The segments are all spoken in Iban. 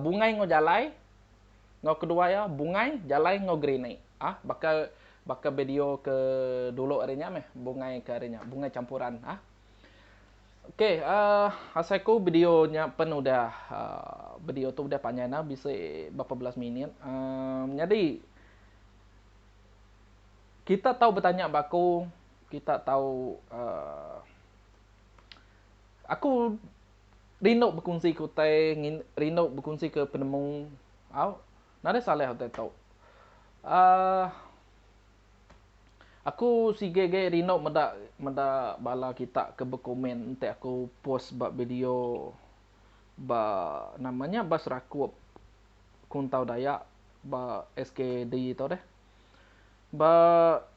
bungai enggau jalai enggau kedua iya bungai jalai enggau grenade ah baka baka video ke dulu ari nya meh bungai ke ari nya bungai campuran ah ok um asai ku video nya pen udah um video tu udah panjai enda bisi berapa belas minit um nyadi kita tau betanya ba aku kita tau um aku Rindu bekunsi ke utai ngin rindu bekunsi ke penemu au nadai salah utai tu. Aaa aku sigi agi rindu meda meda bala kita ke bekomen enti aku post ba video ba nama nya ba serakup kuntau dayak ba SKD tu deh. Ba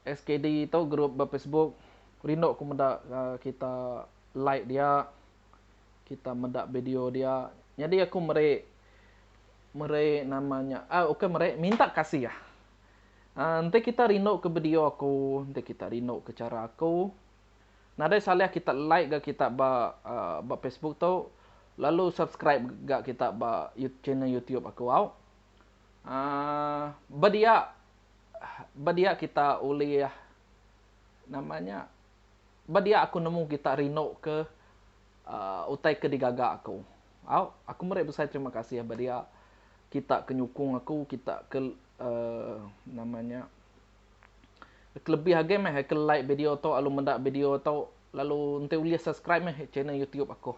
SKD tu grup ba Facebook rindu ku meda kita like dia kita meda video dia nyadi aku meri meri nama nya ah ukai meri minta kasih ah enti kita rindu ke video aku enti kita rindu ke chara aku nadai salah kita like ga kita ba ba facebook tu lalu subscribe ga kita ba channel youtube aku au aaa ba dia ba dia kita ulih nama nya Ba dia aku nemu kita rinduka utai ke digaga aku. Au, aku meri besai terima kasih ba dia kita ke nyukung aku, kita ke nama nya ke lebih agi meh ke like video tu lalu meda video tu lalu enti ulih subscribe meh channel YouTube aku.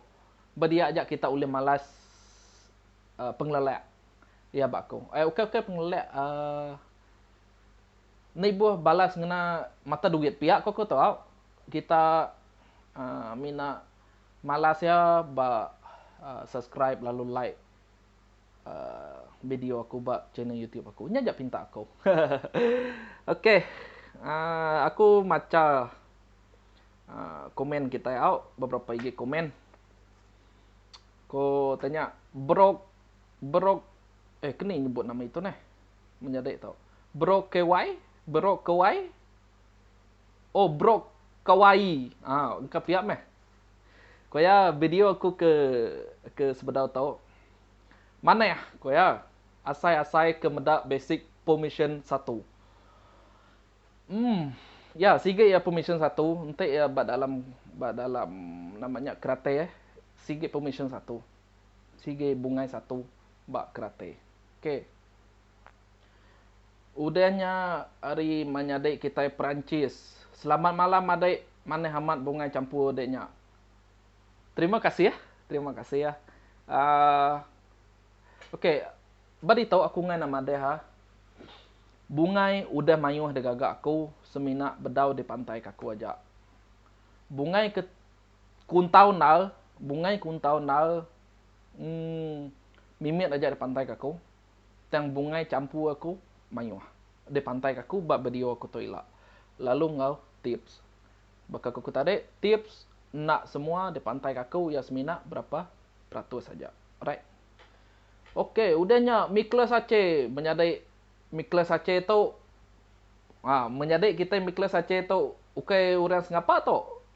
Ba dia aja kita ulih malas pengelelak iya ba aku. Eh ukai-ukai pengelelak uhh. Enda ibuh balas ngena mata duit pia ko ko tau kita mina malas ia ba subscribe lalu like video aku ba channel YouTube aku nya ja pinta aku ok aku macha komen kitai au beberapa igi komen ko tanya brok brok eh ke ni nyebut nama itu neh. Menyadi tu. Brokewai, Brokewai, oh Brokawai. Aa engka pia meh. Ku iya video aku ke ke sebedau tu manah ku iya asai-asai ke meda basic permission satu. Emm ya sigi iya permission satu enti iya ba dalam ba dalam nama nya keratai sigi permission satu. Sigi bungai satu. ba Kerate. K. Udah nya ari manyadi kitai Perancis. Selamat malam adik, manah amat bungai champur dik nya. Terima kasih, terima kasih. Aaa ok ba ditu aku ngan amat deh ha. Bungai udah mayuh digaga aku semina bedau di pantai kaku aja. Bungai ke Kuntau endar, bungai kuntau endar emm mimit aja dipantai ke aku tang bungai champu aku mayuh dipantai ke aku ba video aku tu ila. Lalu enggau tips baka aku ke tadi tips enda semua dipantai ke aku iya semina berapa peratus aja alright. Ok udah nya mikla sache menyadi mikla sache tu a menyadi kitai mikla sache tu ukai orang sengapa tu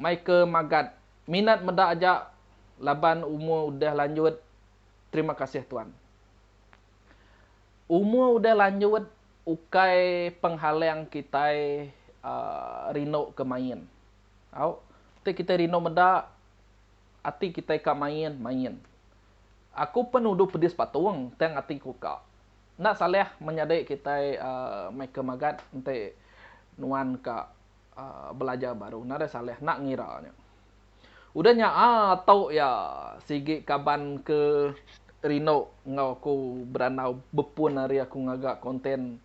Mai ke magat. Minat meda aja laban umur udah lanjut terima kasih tuan. Umur udah lanjut ukai penghalang kitai rindu ke main tau ti kitai rindu meda ati kitai ka main main. Aku pen uduh pedis patung tang ati ku ka. Enda salah menyadi kitai mai ke magat enti nuan ka. belajar baru nadai salah enda ngira nya. Udah nya atu iya sigi kaban ke rindu enggau aku berandau bepun ari aku ngaga konten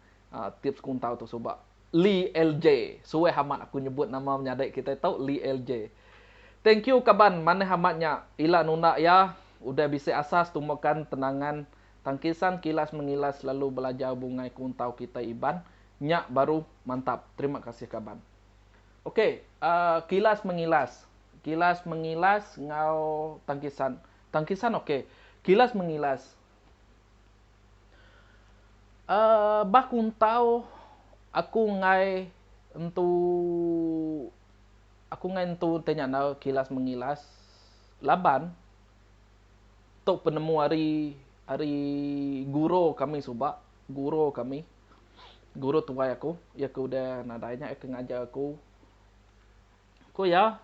tips kuntau tu suba Lee LJ. Suah amat aku nyebut nama menyadi kitai tu Lee LJ. Thank you kaban manah amat nya ila nunda iya udah bisi asa setumbukan tenangan tang kisan kilas mengilas selalu belajar bungai kuntau kitai Iban Nya baru mantap terima kasih kaban. Ok uhh kilas mengilas kilas mengilas enggau tangkisan tangkisan ok kilas mengilas uhh bah kuntau aku enggai entu aku enggai entu ti nya enggau kilas mengilas laban tu penemu ari ari guro kami suba guro kami. Guru tuai aku, iya ke udah nadai nya iya ke ngajar aku. Ku iya,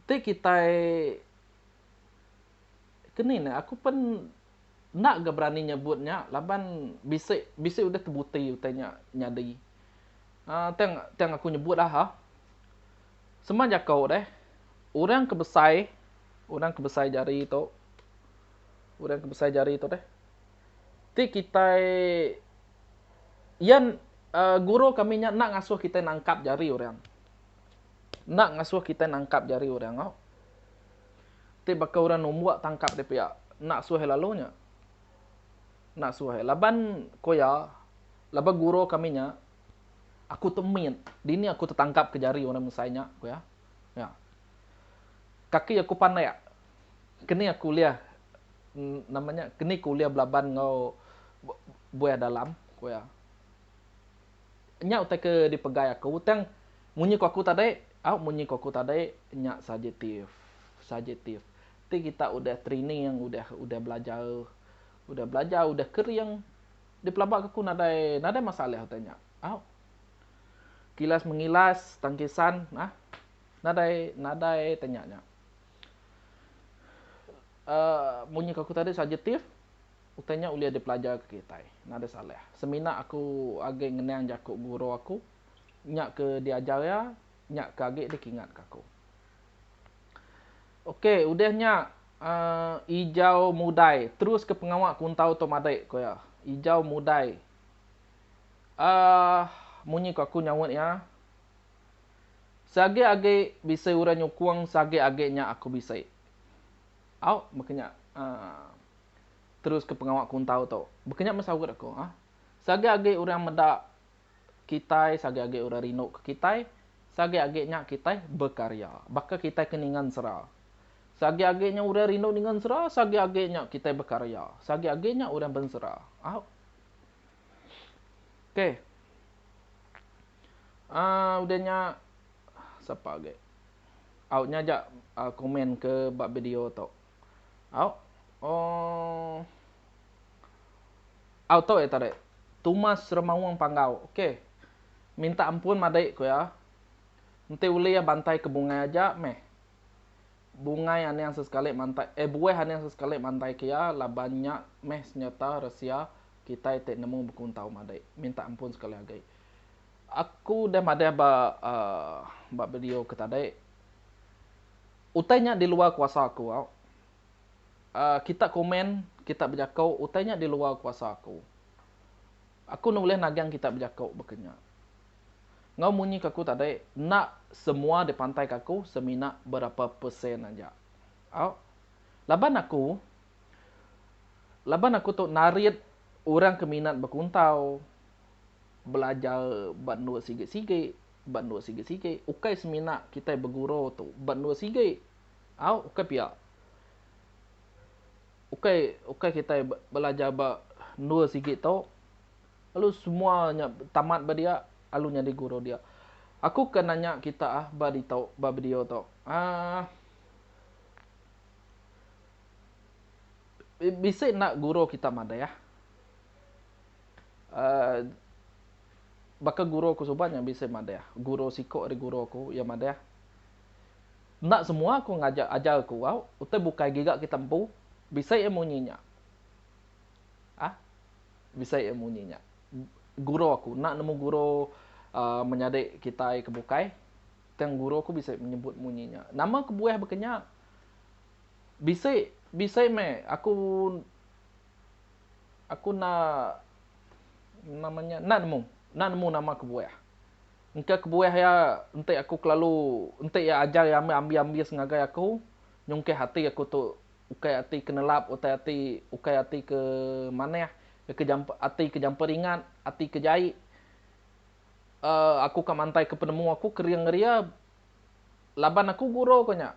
Enti kitai ke ni ne aku pen enda ga berani nyebut nya laban bisi bisi udah tebuti utai nya nyadi. Um tang tang aku nyebut lah ha. Sema jako deh orang ke besai orang ke besai jari tu orang ke besai jari tu deh. ti kitai iya guru kami nya enda ngasuh kitai nangkap jari orang. Enda ngasuh kitai nangkap jari orang enggau. Ti baka orang numbuk tangkap dia pia, enda suah iya lalu nya. Enda suah iya. Laban ku iya, laban guru kami nya, aku temit, dini aku tetangkap ke jari orang Mersai nya, ku iya. Nya. Kaki aku panek. Keni aku ulih nama nya keni ku ulih belaban enggau buah dalam ku iya. Nya utai ke dipegai aku tang munyi ku aku tadi au munyi ku aku tadi nya subjektif subjektif ti kita udah training udah udah belajar udah belajar udah kering dipelabaka aku nadai nadai masalah utai nya au. Kilas mengilas tang kisan nah. Nadai nadai tanya nya. Uh, munyi ke aku tadi subjektif, utai nya ulih dipelajar ke kitai. Nadai salah. Semina aku agi ngenang jaku guru aku, nya ke diajar iya, nya ke agi dikingat ke aku. Okey, udah nya uh, ijau mudai. Terus ke pengawa kuntau tu madik, ku iya. Ijau mudai. Uh, munyi ku aku nyaut iya, Seagik agi bisi orang nyukung seagik agi nya aku bisi. Au, baka nya teruska pengawa kuntau tu. Baka nya meh saut aku. Seagik agi orang meda kitai, seagik agi orang rinduka kitai, seagik agi nya kitai bekarya. Baka kitai ke ninga ensera. Seagik agi nya orang rindu ninga ensera, seagik agi nya kitai bekarya. Seagik agi nya orang bensera. Au. Okey. Aaa udah nya sapa agi au nya aja komen ke ba video tu au ooh au tu iya tadi tumas remaung panggau ok minta ampun madai ku iya enti ulih bantai ke bungai aja meh bungai aning sesekali mantai eh buah aning sesekali mantai ke iya laban nya meh senyata rahsia kitai ti nemu bekuntau madai minta ampun sekali agi. Aku udah madah ba ba video ke tadi. Utai nya di luar kuasa aku. Kita komen, kita bejako utai nya di luar kuasa aku. Aku enda ulih nagang kita bejako baka nya. Enggau munyi ke aku tadi, enda semua dipantai ke aku semina berapa persen aja. Au. Laban aku laban aku tu narit orang ke minat bekuntau. belajar ba endur sigi-sigi, ba endur sigi-sigi, ukai semina kitai beguru tu ba endur sigi. Au, ukai pia. Ukai ukai kitai belajar ba endur sigi tu lalu semua nya tamat ba dia lalu nyadi guru dia. Aku ke nanya kita ah ba ditu ba video tu aah bisi enda guru kita madah. Baka guru aku suba nya bisi madah, guru siku ari guru aku iya madah, enda semua aku ngajar ajar aku au utai bukai giga kita empu bisi iya munyi nya ah bisi iya munyi nya guru aku enda nemu guru uhh menyadi kitai ke bukai tang guru aku bisi nyebut munyi nya. Nama kebuah baka nya bisi bisi meh aku. Aku enda nama nya enda nemu enda nemu nama kebuah. Engka kebuah iya enti aku kelalu enti iya ajar iya meh ambis-ambis ngagai aku nyungkah ati aku tu ukai ati ke nelap utai ati ukai ati ke manah ke jampa ati ke jampa ringat ati ke jai um aku ka mantaika penemu aku ke ring ari iya laban aku guru ku nya.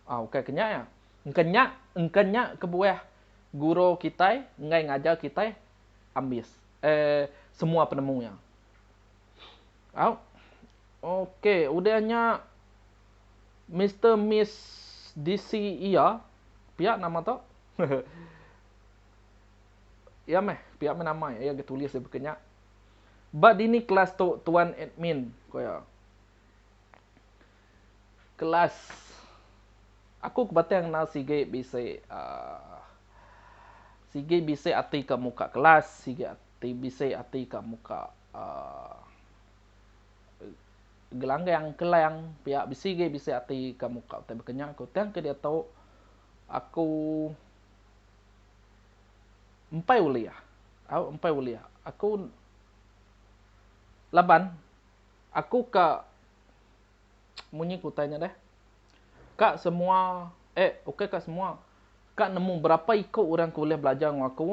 Ah ukai ke nya iya. Engka nya engka nya kebuah guru kitai enggai ngajar kitai ambis eh semua penemu iya. Au ok udah nya Mister Miss DC iya pia nama tu iya meh pia meh nama iya ke tulis dibaka nya. Ba dini kelas tu tuan admin? ku iya. Kelas Aku ke batang enda sigi bisi aaa sigi bisi ati ka muka kelas sigi ati bisi ati ka muka aaa gelanggang kelang pia bisi agi bisi ati ka muka utai bekenya ku tang ke diatu aku empai ulih au empai ulih aku laban aku ka. Munyi ke utai nya deh. Ka semua, eh ukai ka semua, ka nemu berapa iko orang ke ulih belajar enggau aku,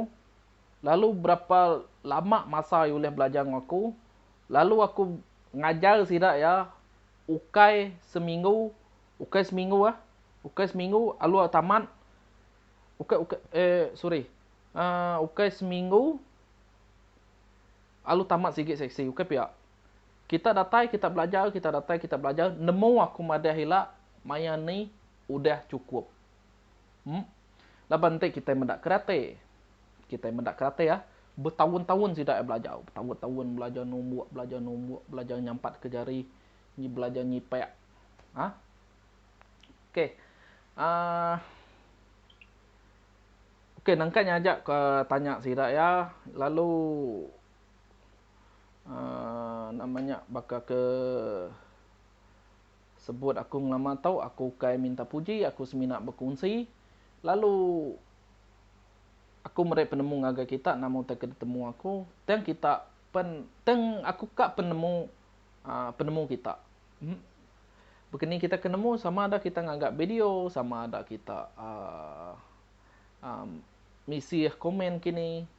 lalu berapa lama masa iya ulih belajar enggau aku, lalu aku ngajar sida iya ukai seminggu, ukai seminggu eh, ukai seminggu lalu iya tamat, ukai ukai eh sorry, eh ukai seminggu lalu tamat sigi seksi, ukai pia. Kita datai kita belajar kita datai kita belajar nemu aku madah ila maya ni udah chukup em laban enti kitai meda kerate kitai meda kerate ah betaun-taun sida ai belajar betaun-taun belajar numbuk belajar numbuk belajar nyampatka jari nyi belajar nyipak a ok aa ok nangka nyaja ke tanya sida iya lalu. aaa nama nya baka ke sebut aku ngelama tu aku ukai minta puji aku semina bekunsi lalu aku meri penemu ngagai kita nama utai ke ditemu aku tang kita pen tang aku ka penemu aaa penemu kita em baka ni kita ke nemu sama ada kita ngaga video sama ada kita aaa aaa misih komen kini.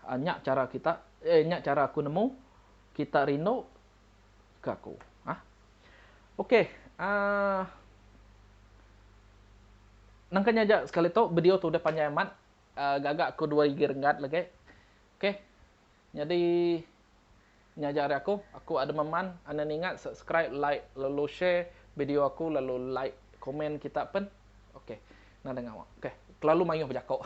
Haa nya chara kita eh nya chara aku nemu kita rindu ke aku ah ok aa nangka nya aja sekali tu bedio tu udah panjai amat aa gaga aku dua igi renggat lagi ok nyadi nya aja ari aku aku Adam Aman anda ninga subscribe like lalu share bedio aku lalu like komen kita pen ok nadai ngawa ok kelalu maioh bejako.